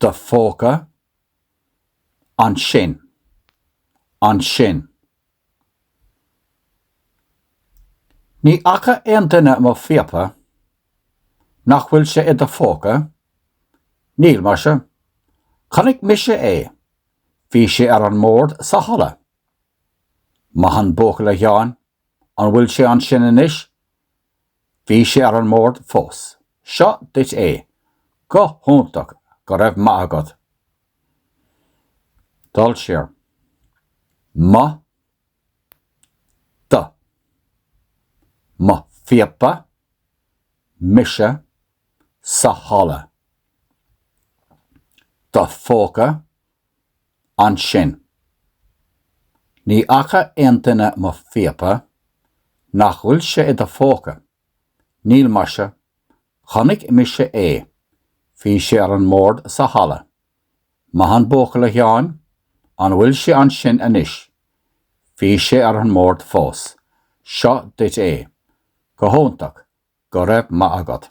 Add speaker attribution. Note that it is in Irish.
Speaker 1: do phóca. Ansin. Ansin. Ní fhaca aon duine mo phíopa. Nach bhfuil sé i do phóca? Níl, maise. Chonaic mise é. Bhí sé ar an mbord sa halla. Maith an buachaill, a Sheáin. An bhfuil sé ansin anois? Bhí sé ar an mbord fós. Seo duit é. Go hiontach, go raibh maith agat. Dul siar. Mo. Do. Mo phíopa. Mise. Sa halla. Do phóca. ansin. Ní fhaca aon duine mo phíopa, nach bhfuil sé i do phóca? Níl maise, chonaic mise é, bhí sé ar an mbord sa halla. Maith an buachaill a Sheáin, an bhfuil sé ansin anois? Bhí sé ar an mbord fós, seo duit é. Go hiontach, go raibh maith agat.